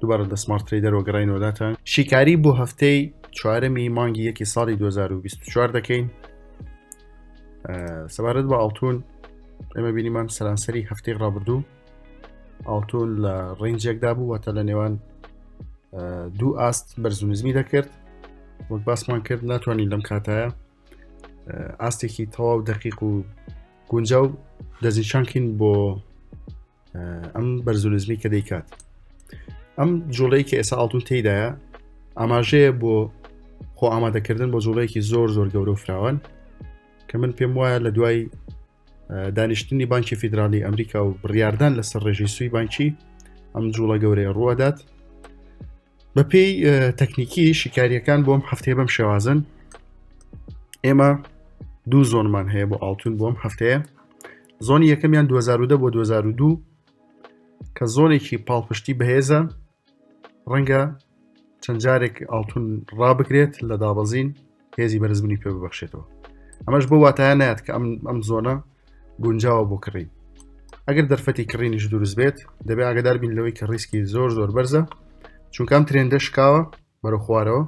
دوبارە لە سمارت تریدەرەوە گەڕینەوە لاتان شیکاری بۆ هەفتەی چوارەمی مانگی یەکی ساڵی 2024 دەکەین سەبارەت بە ئاڵتون ئێمە بینیمان سەرانسەری هەفتەی ڕابردوو ئاڵتون لە ڕنجێکدا بوو واتە لە نێوان دوو ئاست بەرزونزمی دەکرد وەک باسمان کرد ناتوانین لەم کاتایە ئاستێکی تەواو دەقیق و گونجاو دەستنیشانکەین بۆ ئەم بەرزولزمی کە دەیکات ئەم جوڵەی کە ئێسا ئاڵتون تێدایە ئاماژەیە بۆ خۆ ئامادەکردن بۆ جوڵەیەکی زۆر زۆر گەورە و فراوان کە من پێم وایە لە دوای دانیشتنی بانکی فیدراالی ئەمریکا و بڕاردان لەسەر ڕێژی سوی بانکی ئەم جوڵە گەورەیە ڕوەدات بە پێی تەکنیکی شیکاریەکان بۆم هەفتەیە بەم شێوازن ئێمە دوو زۆنمان هەیە بۆ ئاڵتون بۆم هەفتەیە زۆنی یەکەمیان 2010 بۆ 2002 کە زۆنێکی پاڵپشتی بەهێزە ڕەنگە چەند جارێک ئاڵتون ڕابگرێت لە دابەزین هێزی بەرزبوونی پێ ببەخشێتەوە ئەمەش بۆ واتایە نات کە ئەم ئەم زۆنە گونجاوە بۆ کڕین ئەگەر دەرفەتی کڕینیش دروست بێت دەبێت ئاگدار بین لەوەی کە ڕیسکی زۆر زۆر بەرزە چونکەم ترێندە شکاوە بەرە خوارەوە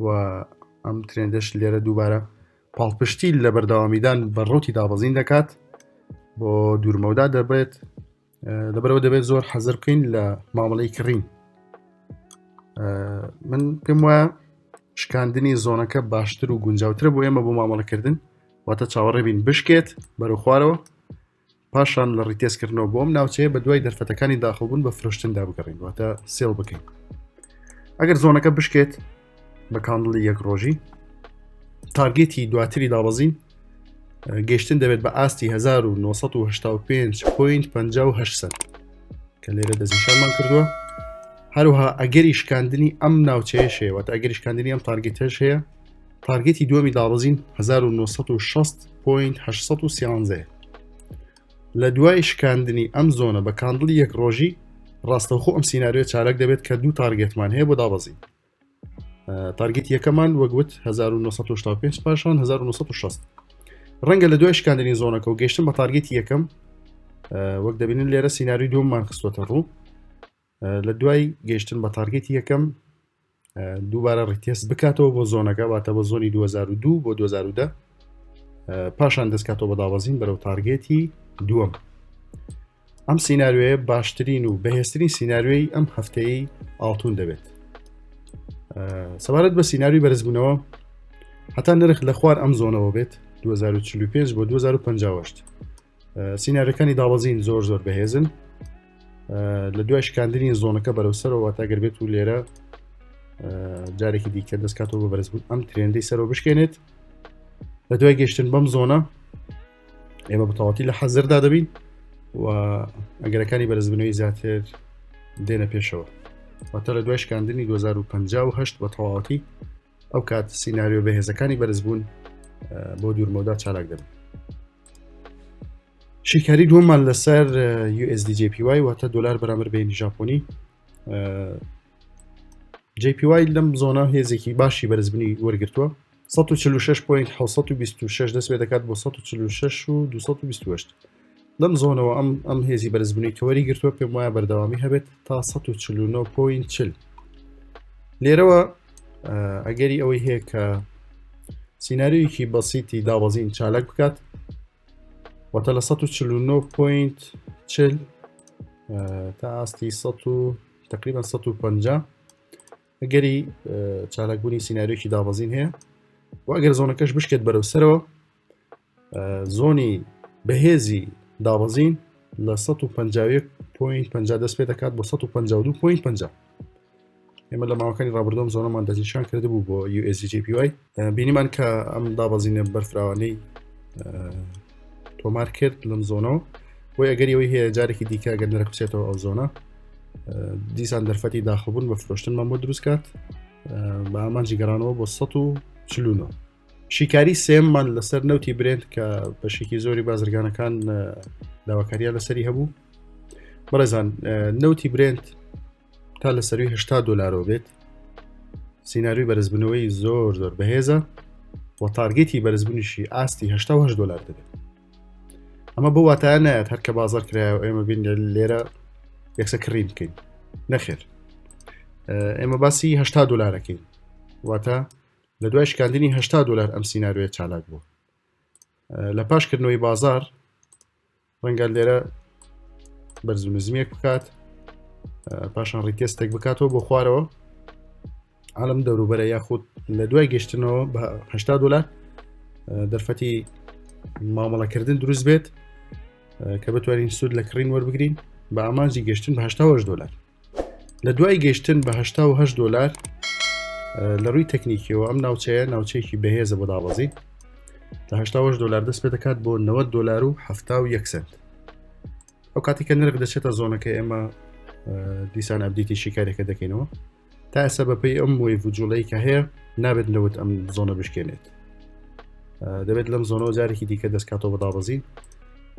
و ئەم ترێندەش لێرە دووبارە پاڵپشتی لە بەردەوامیدان بە ڕوتی دابەزین دەکات بۆ دوورمەودا دەبێت لەبەرەوە دەبێت زۆر حەزر بکەین لە مامەڵی کڕین من پێم وایە شکاندنی زۆنەکە باشتر و گونجاوتر بۆ ئێمە بۆ مامەڵەکردن واتە چاوەڕێبین بشکێت بەرەو خوارەوە پاشان لە ڕیتێسکردنەوە بۆم ناوچەیە بە دوای دەرفەتەکانی داخڵبوون بە فرۆشتندا بگەڕین واتە سێڵ بکەین ئەگەر زۆنەکە بشکێت بە کاندڵی یەک ڕۆژی تارگێتی دواتری دابەزین گەشتن دەبێت بە ئاستی 1995 پوین 58 کە لێرە دەستنیشانمان کردووە هەروها ئەگەری شکاندنی ئەم ناوچەیە شێوەت ئەگەری شکاندنی ئەم تارگێتەش هەیە تارگێتی دووەمی دابەزین 1960 پوین 1970 لە دوای شکاندنی ئەم زۆنە بە کاندڵی یەک ڕۆژی ڕاستەوخۆ ئەم سینناریۆ چالاک دەبێت کە دوو تارگێتمان هەیە بۆ دابەزین تارگێت یەکەمان وەگوت 1995 پاشان 1960 ڕەنگە لە دوای شکاندنی زۆنەکە و گەشتن بە تارگێتی یەکەم وەک دەبینن لێرە سینناوی دوممان خستوەتە ڕوو لە دوای گەیشتن بە تارگەتی یەکەم دووبارە ڕیتێست بکاتەوە بۆ زۆنەکە واتە بە زۆنی 2002 بۆ 2010 پاشان دەستکاتەوە بە دابەزین بەرەو تارگێتی دووەم ئەم سینناروێ باشترین و بەهێسترین سینناروێی ئەم هەفتەیە ئاڵتون دەبێت سەبارەت بە سینناروی بەرزبوونەوە هەتا نرخ لە خوار ئەم زۆنەوە بێت 2045 بۆ 2050 سینارەکانی داوەزین زۆر زۆر بەهێزن لە دوای شکاندنی زۆنەکە بەرەو سەرەوە تاگەر بێت و لێرە جارێکی دیکە دەستکاتەوە بە بەرزبوون ئەم ترێندەی سەرەوە بشکێنێت لە دوای گەشتن بەم زۆنە ئێمە بەتەواتی لە حەزردا دەبین و ئەگەرەکانی بەرزبنەوەی زیاتر دێنە پێشەوە واتە لە دوای شکاندنی 2050 بە تەواوەتی ئەو کات سینناریۆ بەهێزەکانی بەرزبوون بۆ دوورمەودا چالاک دەبن شیکاری دووەمان لەسەر USDJPY واتە دلار بەرامبەر بینی ژاپۆنی JPY لەم زۆنا هێزێکی باشی بەرزبنی وەرگتووە 1666.6 دەست پێ دەکات بۆ 166228 لەم زۆنەوە ئەم ئەم هێزی بەرزبوونی کەوەری گرتووە پێم وایە بەردەوامی هەبێت تا 1940 لێرەوە ئەگەری ئەوەی هەیە کە سینناریویکی بەسیتی دابەزین چالاک بکات واتە لە 1940 تا ئاستی 100 تقریبا 150 ئەگەری چالاکبوونی سینناریوکی دابەزین هەیە و ئەگەر زۆنەکەش بشکێت بەرەو سەرەوە زۆنی بەهێزی دابەزین لە 150.50 دەست پێ دەکات بۆ 152.50 ئێمە لە ماوەکانی ڕابردۆم زۆنەمان دەستنیشان کرده بوو بۆ USGPY بینیمان کە ئەم دابەزینە بەرفراوانەی تۆمار کرد لەم زۆنەوە بۆ ئەگەری ئەوی هەیە جارێکی دیکە گەر نرخچێتەوە ئەو زۆنە دیسان دەرفەتی داخبوون بە فرۆشتنمان بۆ دروستکات بە ئامانجی گەرانەوە بۆ 1940 شیکاری سێممان لەسەر نەوتی برێنت کە بەشێکی زۆری بازرگانەکان داواکاریان لەسەری هەبوو بەڕێزان نەوتی برێنت تا لە سەروی هشتا دلارۆ بێت سینناروی بەرزبنەوەی زۆر زۆر بەهێزە و تارگەتی بەرزبوونیشی ئاستی هشتا دلار دەبێت ئەمە بۆ واتایە نایەت هەر کە بازار کرایە و ئێمە بین لێرە یەکسە کڕین بکەین نەخێر ئێمە باسی هشتا دلارەکەین واتە لە دوای شکاندنی هەشتا دۆلار ئەم سینارۆیە چالاک بووە لە پاش کردنەوەی بازار ڕەنگە لێرە بەرز و نزمیەک بکات پاشان ڕیتێستێک بکاتەوە بۆ خوارەوە عالم دەوروبەرە یاخود لە دوای گەشتنەوە بە هشتا دلار دەرفەتی مامەڵەکردن دروست بێت کە بتوانین سوود لە کڕین وەربگرین بە ئامانجی گەشتن بە هشتا دلار لە دوای گەشتن بە 1970 دلار لە ڕووی تەکنیکیەوە ئەم ناوچەیە ناوچەیەکی بەهێزە بۆ دابەزین لە 1970 دلار دەست پێ دەکات بۆ 90 دلار و 1970 سنت ئەو کاتی کە نرخ دەچێتە زۆنەکە ئێمە دیسان ئەبدیتی شیکارێکە دەکەینەوە تا ئێستا بەپی ئەم وی وجوڵەی کە هەیە نابێت نەوت ئەم زۆنە بشکێنێت دەبێت لەم زۆنەوە جارێکی دیکە دەستکاتەوە بەدابەزین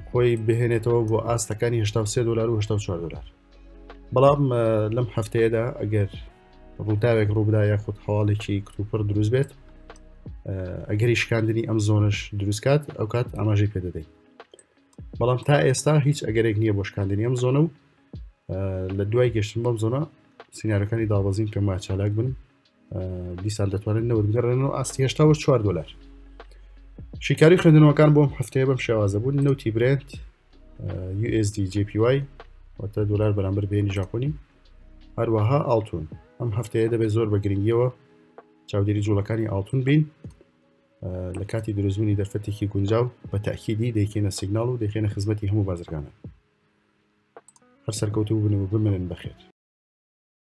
خۆی بهێنێتەوە بۆ ئاستەکانی 1970 دلار و 1970 دلار بەڵام لەم هەفتەیەدا ئەگەر ڕووداوێک ڕووبدا یاخود هەواڵێکی کتوپڕ دروست بێت ئەگەری شکاندنی ئەم زۆنش دروستکات ئەو کات ئاماژەی پێ دەدەین بەڵام تا ئێستا هیچ ئەگەرێک نییە بۆ شکاندنی ئەم زۆنە و لە دوای گەشتن بەم زۆنە سینارەکانی دابەزین کە ماچالاک بن دیسان دەتوانن نەوت بگەڕێن و ئاستی هێشتا بە 4 دلار شیکاری خوێندنەوەکان بۆم هەفتەیە بەم شێوازە بوون نەوتی برێت USD JPY واتە دلار بەرامبەر بێنی ژاپۆنی هەروەها ئاڵتون ئەم هەفتەیە دەبێت زۆر بە گرنگیەوە چاودێری جوڵەکانی ئاڵتون بین لە کاتی دروستبوونی دەرفەتێکی گونجاو بە تاکیدی دەیکێنە سیگنال و دەخێنە خزمەتی هەموو بازرگانە هەر سەرکەوتو بنەوە بمێنن بەخێت